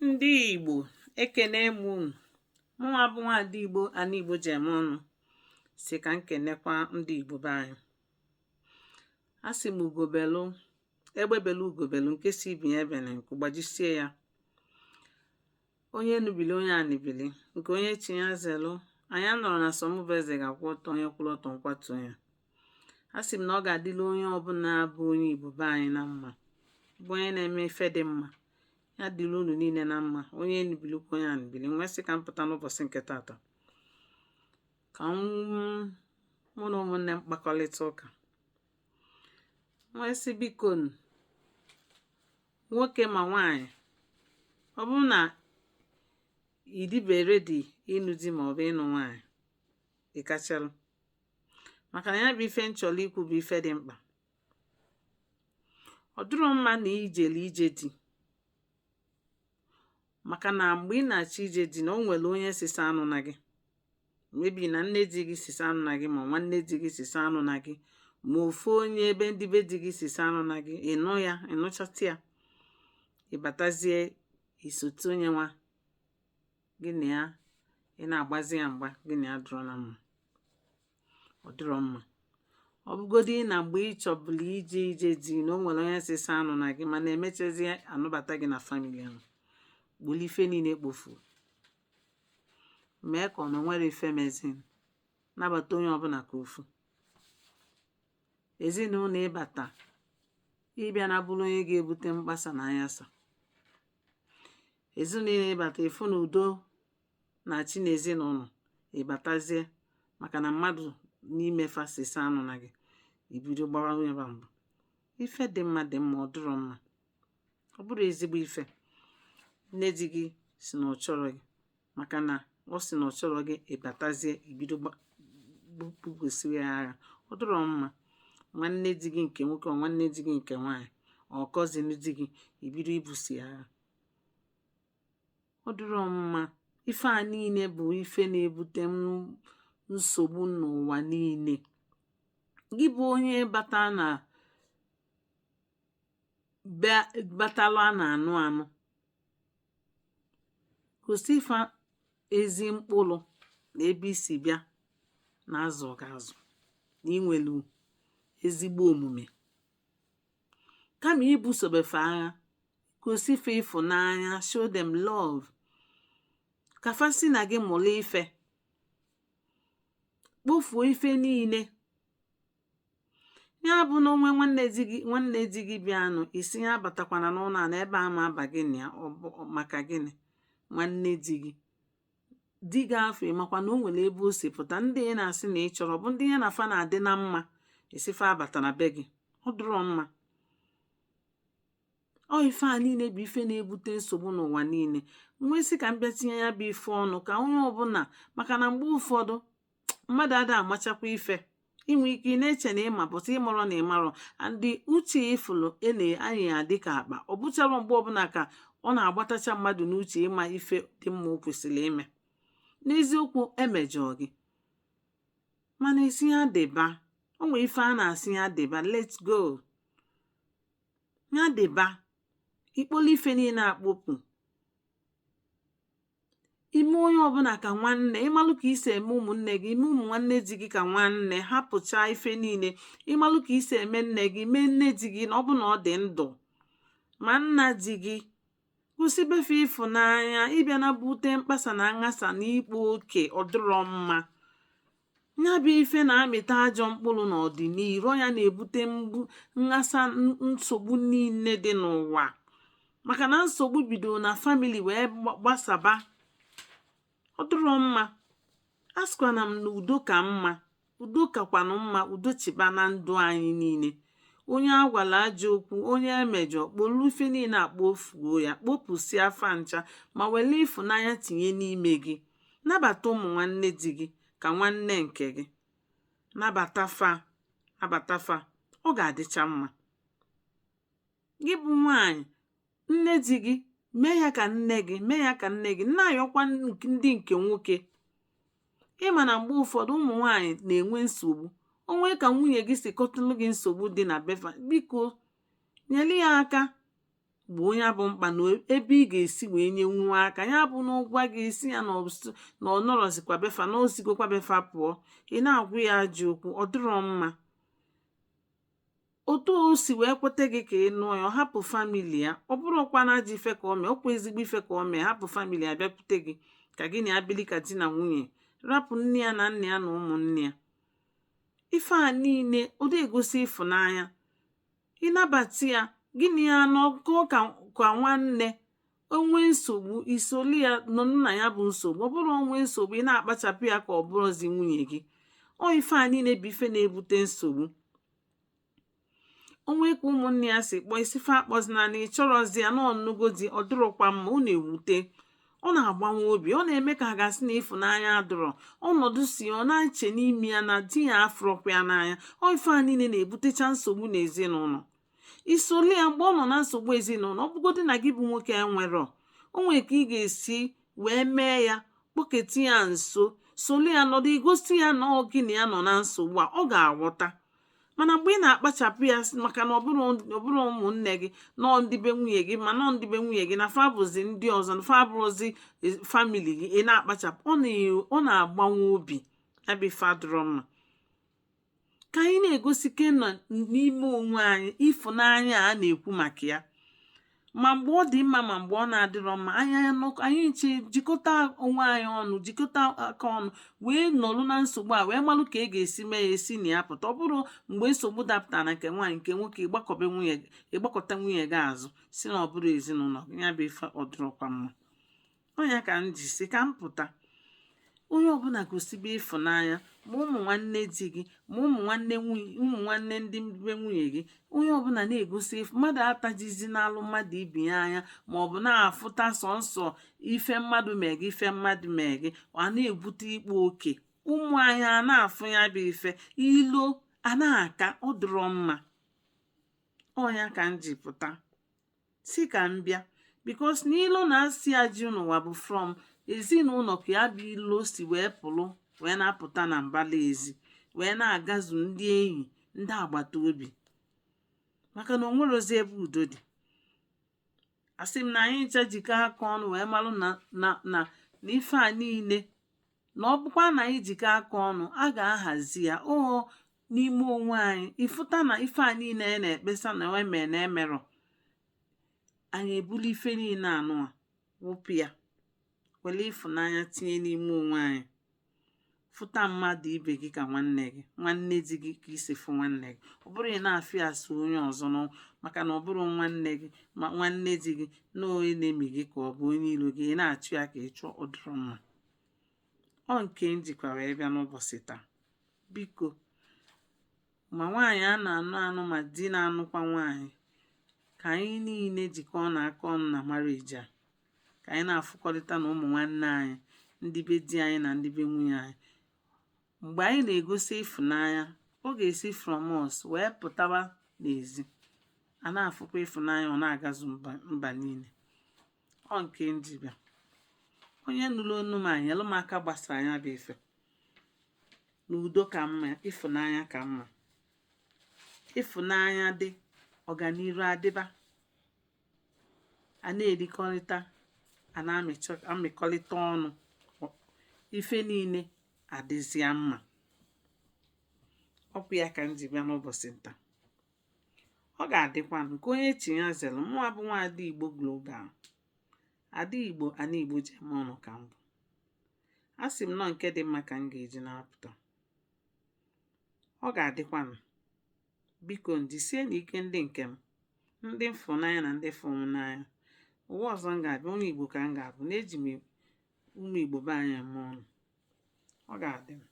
ndị Igbo ekene m unu mụnwa bụ nwaada Igbo ana Igbo ji eme ọnụ sị ka m kenekwa ndị Igbo be anyị a sị m ugo belu egbe belu ugo belu nke sị ibe ya ebena nku gbajisie ya onye enu bili onye anị bili nke onye chi ya zelụ anyị anọrọ na sọ mụ bụ eze ga-akwụ ọtọ onye kwụrụ ọtọ m kwatu ya a sị m na ọ ga-adịla onye ọbụla bụ onye igbo be anyị na mma bụ onye na-eme ife dị mma ya dịrị unu niile na mma onye enu bilikwa onye anị bili m wee sị ka m pụta n'ụbọchị nke tata ka mụ na ụmụnne m kpakọrịta ụka m wee sị biko nwoke ma nwaanyị ọ bụrụ na ị dịbe ready ịnụ di ma ọ bụ ịnụ nwaanyị ị kpachalụ maka na ya bụ ife m chọrọ ikwu bụ ife dị mkpa ọ dịrọ mma na i jelu ije di maka na mgbe ị na-achọ ije di na o nwere onye sị sị anụna gị maybe na nne di gị sị sị anụna gị ma nwanne di gị sị sị anụna gị ma ofu onye ebe ndị be di gị sị sị anụna gị ị nụ ya ị nụchata ya ị batazie i sote onye nwa gị na ya ị na-agbazi ya mgba gị na ya adịrọ na mma ọ dịrọ mma ọ bụgodị na mgbe ị chọbụlụ ije ije di na o nwere onye sị sị anụna gị mana emechazi anụbata gị na family ahụ bulu ife niile kpofu mee ka ọ na nwerọ ife mezịnụ nabata onye ọbụla ka ofu ezinụlọ ị bata ị bịana bụrụ onye ga-ebute mkpasa na anyasa ezinụlọ ị bata ị fụ na udo na-achị na ezinụlọ ị batazie maka na mmadụ n'ime fa sị sị anụna gị i bido gbawa onye ba mbụ ife dị mma dị mma ọ dịrọ mma ọ bụrọ ezigbo ife nne di gị sị na ọ chọrọ gị maka na ọ sị na ọ chọrọ gị ị batazie i bido busoro ya agha ọ dịrọ mma nwanne di gị nke nwoke ọ nwanne di gị nke nwaanyị ọ cousin di gị i bido ibuso ya agha ọ dịrọ mma ife a niile bụ ife na-ebute nsogbu n'ụwa niile gị bụ onye batalụ a na-anụ anụ gosi ife ezi mkpụrụ na ebe i si bịa na a zụ gị azụ na i nwelu ezigbo omume kama ibusobe fa agha gosi fa ịfụnanya show them love ka fa si na gị mụrụ ife kpofuo ife niile ya bụ na o nwee nwanne di gị bịanụ ị sị ya abatakwana n'ụlọ a na ebe a ama aba gị na ya maka gịnị nwanne di gị di gị afụ ị makwa na o nwere ebe o si pụta ndị ị na-asị na ị chọrọ bụ ndị ya na fa na-adị na mma ị sị fa abatana be gị ọ dụrọ mma ọ ife a niile bụ ife na-ebute nsogbu n'ụwa niile m wee sị ka m bịa tinye ya bụ ife ọnụ ka onye ọbụla maka na mgbe ụfọdụ mmadụ ada amachakwa ife i nwee ike ị na-eche na ị ma but ị marọ na ị marọ and uche ị fụlụ a na-anya ya dịka akpa ọ bụcharọ mgbe ọbụla ka ọ na-agbatacha mmadụ n'uche ịma ife dị mma o kwesịrị ime n'eziokwu e mejọọ gị mana ị sị ya dịba o nwere ife a na-asị ya dịba let's go ya dịba i kpolu ife niile a kpopụ i mee onye ọbụla ka nwanne ị malụ ka i si eme ụmụnne gị i mee ụmụ nwanne di gị ka nwanne hapụcha ife niile ị malụ ka i si eme nne gị mee nne di gị na ọ bụ na ọ dị ndụ ma nna di gị gosibe fa ịfụnanya ịbịa na-ebute mkpasa na nghasa na ịkpa oke ọ dụrọ mma ya bụ ife na-amịta ajọ mkpụrụ n'ọdịnihu ya na-ebute mgbu nghasa nsogbu niile dị n'ụwa maka na nsogbu bidoro na family wee gbasaba ọ dịrọ mma asịkwana m na udo ka mma udo kakwanụ mma udo chịba na ndụ anyị niile onye a gwalụ ajọ okwu onye e mejọ kpolu ife niile a kpofuo ya kpopụsịa fa ncha ma were ịfụnanya tinye n'ime gị nabata ụmụ nwanne di gị ka nwanne nke gị nabata fa nabata fa ọ ga-adịcha mma gị bụ nwaanyị nne di gị mee ya ka nne gị mee ya ka nne gị na-ayọkwa ndị nke nwoke ị ma na mgbe ụfọdụ ụmụ nwaanyị na-enwe nsogbu o nwere ka nwunye gị si kọtụlụ gị nsogbu dị na be fa biko nyere ya aka gboo ya bụ mkpa na ebe ị ga-esi wee nyenwu aka ya bụ na ọ gwa gị ị sị ya na ọ nọrọzikwa be fa na o sigokwa be fa pụọ ị na-agwa ya ajọ okwu ọ dịrọ mma otu o si wee kweta gị ka ị nụọ ya ọ hapụ family ya ọ bụrọkwanụ ajọ ife ka o mee ọ kwa ezigbo ife ka o mee hapụ family ya bịakwute gị ka gị na ya bili ka di na nwunye rapụ nne ya na nna ya na ụmụnne ya ife a niile ọ dị egosi ịfụnanya ịnabata ya gị na ya anọkọ ka ka nwanne o nwee nsogbu i solu ya nọ na ya bụ nsogbu ọ bụrọ o nwee nsogbu ị na-akpachapụ ya ka ọ bụrọzi nwunye gị ọ ife a niile bụ ife na-ebute nsogbu o nwee ka ụmụnne ya si kpọọ ị sị fa akpọzina na ị chọrọzi ya na ọ nụgo di ọ dịrọkwa mma ọ na-ewute ọ na-agbawa obi ọ na-eme ka a ga-asị na ịfụnanya adịrọ ọ nọdụsịa ọ na-eche n'ime ya na di ya afụrọkwa ya n'anya ọ ife a niile na-ebutecha nsogbu n'ezinụlọ i solu ya mgbe ọ nọ na nsogbu ezinụlọ ọ bụgodị na gị bụ nwoke enwerọ o nwere ka ị ga-esi wee mee ya kpọketa ya nso solu ya nọdụ i gosi ya na ọ gị na ya nọ na nsogbu a ọ ga-aghọta mana mgbe ị na-akpachapụ ya maka na ọ bụrọ ụmụnne gị na ọ ndị be nwunye gị ma na ọ ndị be nwunye gị na fa bụzi ndị ọzọ na fa bụrọzi e, family gị ị na-akpachapụ ọ na-agbawa obi ya bụ ife adịrọ mma ka anyị na-egosikenụ n'ime onwe anyị ịfụnanya a na-ekwu maka ya ma mgbe ọ dị mma ma mgbe ọ na-adịrọ mma anyị anọkọ anyị ncha ejikọta onwe anyị ọnụ jikọta aka ọnụ wee nọlụ na nsogbu a wee malụ ka e ga-esi mee ya e si na ya pụta ọ bụrọ mgbe nsogbu dapụtara na nke nwaanyị nke nwoke ị gbakụba nwunye ị gbakụta nwunye gị azụ sị na ọ bụrọ ezinụlọ ya bụ ife ọ dịrọkwa mma ọ ya ka m ji sị ka m pụta onye ọbụla gosibe ịfụnanya ma ụmụ nwanne di gị ma ụmụ nwanne nwunye ụmụ nwanne ndị be nwunye gị onye ọbụla na-egosi mmadụ atajizinalụ mmadụ ibe ya anya ma ọ bụ na-afụta sọnsọ ife mmadụ mee gị ife mmadụ mee gị ọ na-ebute ịkpa oke ụmụ anyị a na-afụ ya bụ ife ilo a na-aka ọ dịrọ mma ọ ya ka m ji pụta sị ka m bịa because na ilo na asị a dị n'ụwa bụ from ezinụlọ ka ya bụ ilo si wee pụlụ wee na-apụta na mbala ezi wee na-agazu ndị enyi ndị agbata obi maka na o nwerọzi ebe udo dị asị m na anyị ncha jikọ aka ọnụ wee malụ na na na ife a niile na ọ bụkwa na anyị jikọ aka ọnụ a ga-ahazi ya oo n'ime onwe anyị ị fụta na ife a niile anyị na-ekpesa na e mee na e merọ anyị ebuli ife niile anụwa wụpụ ya were ịfụnanya tinye n'ime onwe anyị fụta mmadụ ibe gị ka nwanne gị nwanne di gị ka i si fụ nwanne gị ọ bụrọ ị na-afụ ya as onye ọzọ nọ maka na ọ bụrọ nwanne gị ma nwanne di gị na onye enemy gị ka ọ bụ onye iro gị ị na-achụ ya ka ị chụọ ọ dịrọ mma ọ nke m jikwa wee bịa n'ụbọchị taa biko ma nwaanyị a na-anụ anụ ma di na-anụkwa nwaanyị ka anyị niile jikọnụ aka ọnụ na marriage a ka anyị na-afụkọrịta na ụmụ nwanne anyị ndị be di anyị na ndị be nwunye anyị mgbe anyị na-egosi ịfụnanya ọ ga-esi from us wee pụtawa n'ezi a na-afụkwa ịfụnanya ọ na-agazu mba niile ọ nke m ji bịa onye nụrụ onu m anyelụ m aka gbasaa ya bụ ife na udo ka mma ịfụnanya ka mma ịfụnanya dị ọganiru adịba a na-erikọrịta a na-emekọrịta ọnụ ife niile adịzịa mma ọkwa ya ka m ji bịa n'ụbọchị nta ọ ga-adịkwanụ nke onye chi ya zere mụnwa bụ nwa ada igbo global ada igbo ana igbo ji eme ọnụ ka m bụ asị m na ọ nke dị mma ka m ga-eji na-apụta ọ ga-adịkwanụ biko jisienụ ike ndị nke m ndị m fụ n'anya na ndị fụ m n'anya ụwa ọzọ m ga-abịa onye igbo ka m ga-abụ na eji m ụmụ igbo be anyị eme ọnụ ọ ga-adị m